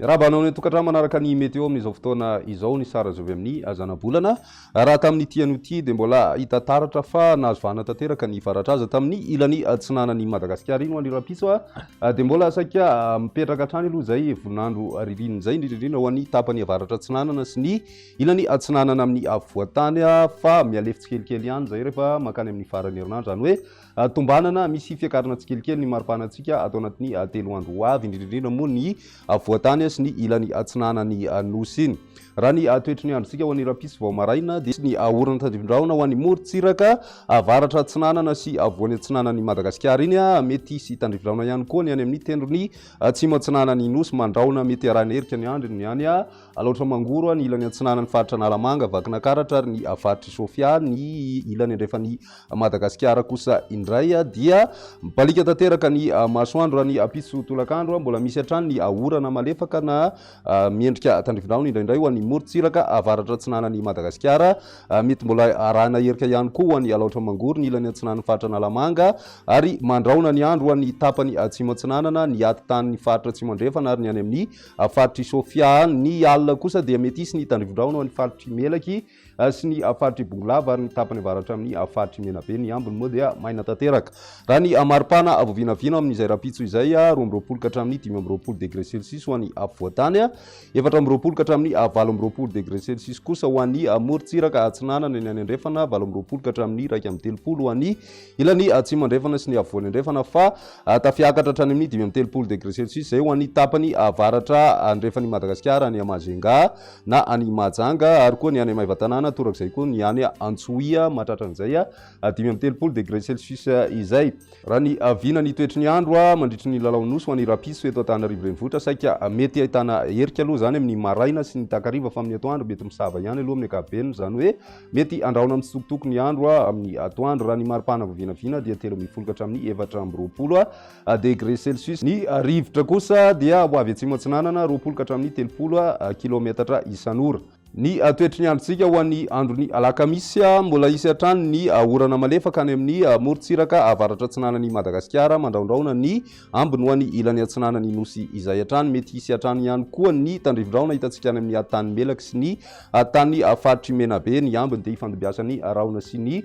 Miarahaba anao ny tokantrano manaraka ny météo amin'izao fotoana izao ny sary azo avy amin'ny azanabolana. Raha tamin'ny ity anio ity dia mbola hita taratra fa nahazo vahana tanteraka ny faratra aza tamin'ny ilany atsinanan'i Madagasikara iny ho an'ny rahampitso a. Ah, Dia mbola saika ah, mipetraka hatrany aloha izay voninandro ririnina izay, indrindra indrindra ho an'ny tapany avaratra atsinanana sy ny Ilany atsinanana amin'ny afovoan-tany fa mihalefy tsikelikely ihany izay rehefa mankany amin'ny faran'ny herinandro, izany hoe tombanana misy fiakarana tsikelikely ny maripanantsika ato anatin'ny telo andro ho avy, indrindra indrindra moa ny afovoan-tany sy ny ilany atsinanan'ny Nosy iny. Raha ny toetry ny androntsika ho an'ny rahampitso vao maraina dia. Ny orana tandrifindrahona ho an'ny morontsiraka avaratra atsinanana sy afovoany atsinanan'i Madagasikara iny, mety hisy tandrifindrahona ihany koa ny any amin'ny tendrony atsimo atsinanan'ny Nosy mandrahona, mety arahina erika ny andro ny any. Alaotra Mangoro, ny ilany atsinanan'ny faritra Analamanga, Vakinankaratra ary ny faritr'i Sofia, ny ilany andrefan'i Madagasikara kosa indray dia mibaliaka tanteraka ny masoandro raha ny ampitso tolakandro mbola misy hatrany ny orana malefaka na miendrika tandrifindrahona indraindray ho an'ny morontsiraka avaratra atsinanan'i Madagasikara mety mbola arahina herika ihany koa ho an'i Alaotra Mangoro ny ilany atsinanan'ny faritra Analamanga ary mandrahona ny andro ho an'ny tapany atsimo atsinanana ny ati-tanin'ny faritra atsimo andrefana ary ny any amin'ny Ny faritr'i Sofia ny alina kosa dia mety hisy ny tandrifondrahona ho an'ny faritr'i Melaky sy ny faritr'i Bongolava ary ny tapany avaratra amin'ny faritr'i Menabe. Ny ambiny moa dia maina tanteraka. Raha ny maripana vao vinavina amin'izay rahampitso izay, roa amby roapolo ka hatramin'ny dimy amby roapolo degre celsius ho an'ny afovoantany, efatra amby roapolo ka hatramin'ny valo amby roapolo degre celsius kosa ho an'ny morontsiraka atsinanana, eny any andrefana, valo amby roapolo ka hatramin'ny iraika amby telopolo ho an'ny Ilany atsimo andrefana sy ny afovoany andrefana fa tafiakatra hatrany amin'ny dimy amby telopolo degre celsius izay ho an'ny tapany avaratra andrefan'i Madagasikara, any Majunga na any Mahajanga ary koa ny any Maevatanàna torak'izay koa ny any Antsohihy mahatratran'izay dimy amby telopolo degre celsius izay. Raha ny vina ny toetry ny andro mandritry ny lalao nosy ho an'ny Rapiso eto Antananarivo Renivohitra saika mety ahitana erika aloha izany amin'ny maraina sy ny takariva fa amin'ny atoandro mety misava ihany aloha amin'ny ankapobeny izany hoe Mety andrahona mitsitokotoko ny andro amin'ny atoandro raha ny maripana vao vinavina dia telo ambin'ny folo ka hatramin'ny efatra amby roapolo degre celsius. Ny rivotra kosa dia ho avy atsimo atsinanana, roapolo ka hatramin'ny telopolo kilaometatra isan'ora. Ny toetry ny androntsika ho an'ny andron'ny alakamisy, Mbola hisy hatrany ny orana malefaka any amin'ny morontsiraka avaratra atsinanan'i Madagasikara, mandrahondrahona ny ambiny ho any ilany atsinanan'ny nosy izay hatrany. Mety hisy hatrany ihany koa ny tandrivindrahona hitantsika any amin'ny tany melaky sy ny Tany faritr'i Menabe, ny ambiny dia ifandimbiasan'ny rahona sy ny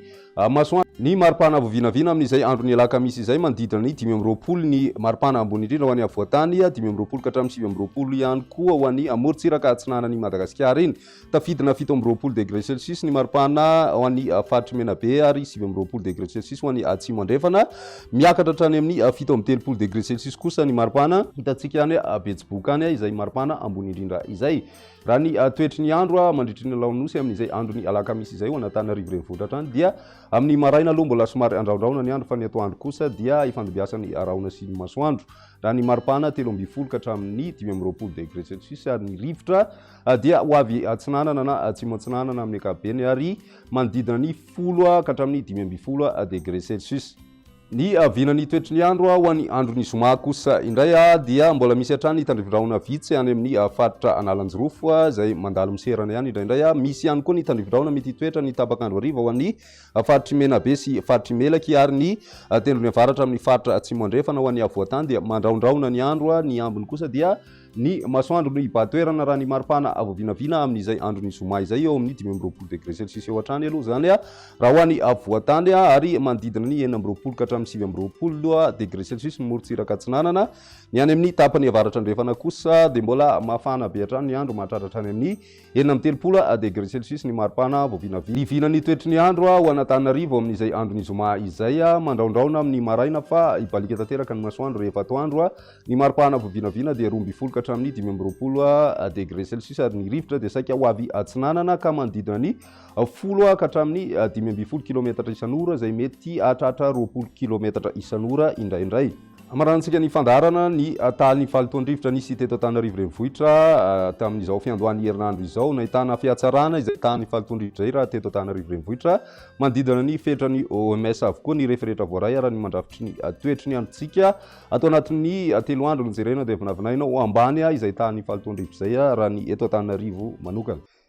masoandro. Ny maripana avo vinavina amin'izay andron'ny alakamisy izay manodidina ny dimy amby roapolo ny maripana ambony indrindra ho an'i afovoan-tany, dimy amby roapolo ka hatramin'ny sivy amby roapolo ihany koa ho an'i morontsiraka atsinanan'i Madagasikara iny. Tafidina fito amby roapolo degre celsius ny maripana ao an'ny faritr'i Menabe ary sivy amby roapolo degre celsius ho an'i Atsimo Andrefana. Miakatra hatrany amin'ny fito amby telopolo degre celsius kosa ny maripana. Hitantsika any Betsiboka any izay maripana ambony indrindra izay. Raha ny toetry ny andro mandritry ny laonosy amin'izay andron'ny alakamisy izay ho an'Antananarivo renivohitra hatrany dia amin'ny maraina aloha mbola somary andraondraona ny andro fa ny atoandro kosa dia ifandimbiasan'ny rahona sy ny masoandro. Raha ny maripana telo ambin'ny folo ka hatramin'ny dimy amby roapolo degré celsius ary ny rivotra dia ho avy atsinanana na atsimo atsinanana amin'ny ankapobeny ary manodidina ny folo ka hatramin'ny dimy ambin'ny folo degré celsius. Ny avianan'ny toetry ny andro ho an'ny andron'ny zoma kosa indray dia mbola misy hatrany tandrivindrahona vitsy any amin'ny faritra Analanjirofo izay mandalo miserana ihany indraindray. Misy ihany koa ny tandrivindrahona mety hitoetra ny tapak'andro hariva ho an'ny faritr'i Menabe sy faritr'i Melaky ary ny tendrony avaratra amin'ny faritra Atsimo Andrefana ho an'ny afovoan-tany dia mandrahondrahona ny andro, ny ambiny kosa dia Ny masoandro no hibahan-toerana raha ny maripana vao vinavina amin'izay andron'ny zoma izay eo amin'ny dimy amby roapolo degre celsius eo hatrany aloha izany raha ho any afovoan-tany ary manodidina ny enina amby roapolo ka hatramin'ny sivy amby roapolo degre celsius ny morontsiraka atsinanana. Ny any amin'ny tapany avaratra andrefana kosa dia mbola mafana be hatrany ny andro mahatratra hatrany amin'ny Enina amby telopolo degre celsius ny maripana vao vinavina. Hivina ny toetry ny andro ao Anatananarivo amin'izay andron'ny zoma izay. Mandraondraona amin'ny maraina fa hibaliaka tanteraka ny masoandro rehefa atoandro. Ny maripana vao vinavina dia roa ambin'ny folo ka hatramin'ny dimy amby roapolo degre celsius ary ny rivotra dia saika ho avy atsinanana ka manodidina ny folo ka hatramin'ny dimy ambin'ny folo kilometatra isan'ora izay mety hahatratra roapolo kilometatra isan'ora indraindray. Hamaranantsika ny fandaharana ny tahan'ny fahalotoan-drivotra nisy teto Antananarivo Renivohitra tamin'izao fiandohan'ny herinandro izao. Nahitana fihatsarana izay tahan'ny fahalotoan-drivotra iray raha teto Antananarivo Renivohitra manodidina ny fenitran'ny OMS avokoa ny rehefa rehetra voaray araka ny mandrafitry ny toetry ny androntsika. Ato anatin'ny telo andro nojerena dia vinavinaina ho ambany izay tahan'ny fahalotoan-drivotra izay raha ny eto Antananarivo manokana.